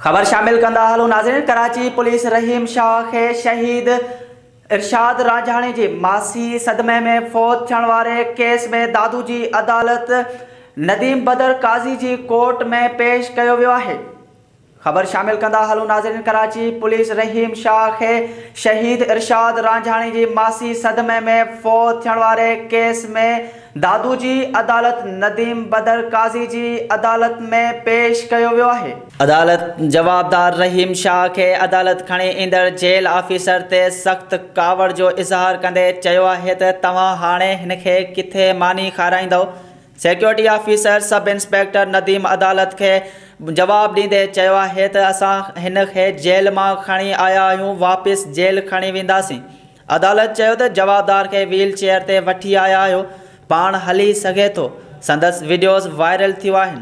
خبر شامل ڪندا هلون ناظرين ڪراچي پوليس رحيم شاهه کي شهيد ارشاد رانجهاڻي جي ماسي صدمي ۾ فوت ٿيڻ واري ڪيس ۾ دادو جي عدالت نديم بدر قاضي جي ڪورٽ ۾ پيش ڪيو ويو آهي خبر شامل ڪندا هلون ناظرين ڪراچي پوليس رحيم شاهه کي شهيد ارشاد رانجهاڻي جي ماسي صدمي ۾ فوت ٿيڻ واري ڪيس ۾ دادو جي عدالت نديم بدر قاضي جي عدالت ۾ پيش ڪيو ويو آهي. عدالت جوابدار رحيم شاهه کي عدالت کڻي ايندڙ جيل آفيسر تي سخت ڪاوڙ جو اظهار ڪندي چيو آهي ته توهان هاڻي هن کي ڪٿي ماني کارائيندؤ؟ Security officer sub inspector Nadeem عدالت کي جواب ڏيندي چيو آهي ته اسان هن کي جيل مان کڻي آيا آهيون واپس جيل کڻي وينداسين. عدالت چيو ته جوابدار کي ويل چيئر تي وٺي آيا آهيو، پاڻ هلي سگهي ٿو، سندس وڊيوز وائرل ٿيو آهن.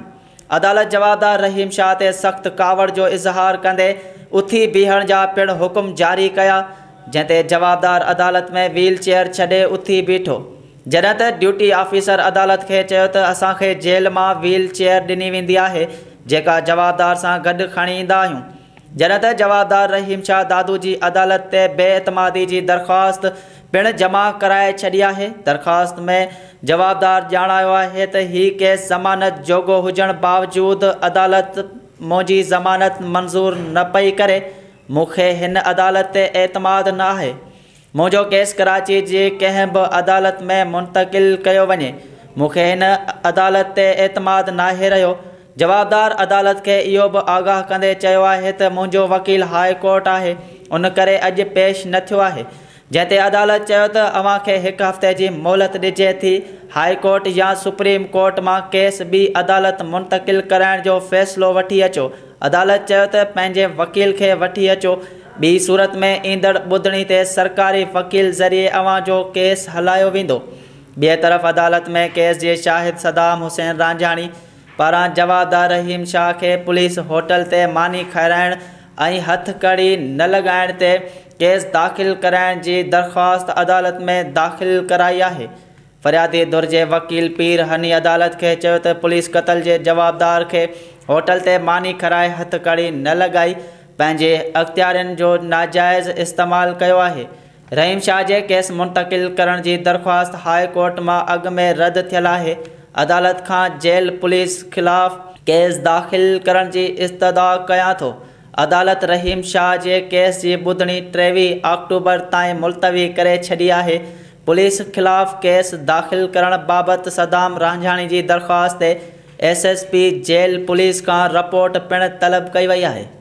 عدالت جوابدار رحيم شاهه تي سخت ڪاوڙ جو اظهار ڪندي اٿي بيهڻ جا پڻ حڪم جاري ڪيا، جنهن تي جوابدار عدالت ۾ ويل چيئر ڇڏي اٿي بيٺو، جڏهن ته ڊيوٽي آفيسر عدالت کي چيو ته اسان کي جيل مان ويل چيئر ڏني ويندي آهي، جيڪا جوابدار سان گڏ کڻي ايندا آهيون. جڏهن ته جوابدار رحيم شاهه دادو جي عدالت تي بي اعتمادي جي درخواست پڻ جمع ڪرائي ڇڏي آهي. درخواست ۾ جوابدار ڄاڻايو آهي ته هي ڪيس ضمانت جوڳو هجڻ باوجود عدالت منهنجي ضمانت منظور نه پئي ڪري، مون کي هن عدالت تي اعتماد نه آهي. منهنجو ڪيس ڪراچي جي ڪنهن به عدالت ۾ منتقل ڪيو وڃي، مون کي هن عدالت تي اعتماد ناهي رهيو. جوابدار عدالت کي اهو به آگاهه ڪندي چيو آهي ته منهنجو وڪيل هاء ڪورٽ آهي، ان ڪري اڄ پيش نه ٿيو آهي. جنهن تي عدالت چيو ته اوهان کي هڪ هفتي جي مهلت ڏجي ٿي، هاء ڪورٽ يا سپريم ڪورٽ مان ڪيس ٻي عدالت منتقل ڪرائڻ جو فيصلو وٺي اچو. عدالت چيو ته پنهنجي وڪيل کي وٺي اچو، ٻي صورت ۾ ايندڙ ٻڌڻي تي سرڪاري وڪيل ذريعي اوهان جو ڪيس هلايو ويندو. ٻئي طرف عدالت ۾ ڪيس جي شاهد صدام حسين رانجهاڻي پاران جوابدار رحيم شاهه کي پوليس هوٽل تي ماني کارائڻ ۽ هٿ ڪڙي نه لڳائڻ تي ڪيس داخل ڪرائڻ جي درخواست عدالت ۾ داخل ڪرائي آهي. فريادي ڌر جي وڪيل پير هني عدالت کي چيو ته پوليس قتل جي جوابدار کي هوٽل تي ماني کارائي هٿڪڙي نه لڳائي پنهنجي اختيارين جو ناجائز استعمال ڪيو آهي. رحيم شاهه جي ڪيس منتقل ڪرڻ جي درخواست هاء ڪورٽ مان اڳ ۾ رد ٿيل آهي، عدالت کان جيل پوليس خلاف ڪيس داخل ڪرڻ جي استدعا ڪيان ٿو. عدالت رحيم شاهه جي ڪيس جي ٻڌڻي ٽيويهه آڪٽوبر تائين ملتوي ڪري ڇڏي آهي. پوليس خلاف ڪيس داخل ڪرڻ بابت صدام رانجهاڻي جي درخواست تي S S P jail police کان رپورٽ پڻ طلب ڪئي وئي آهي.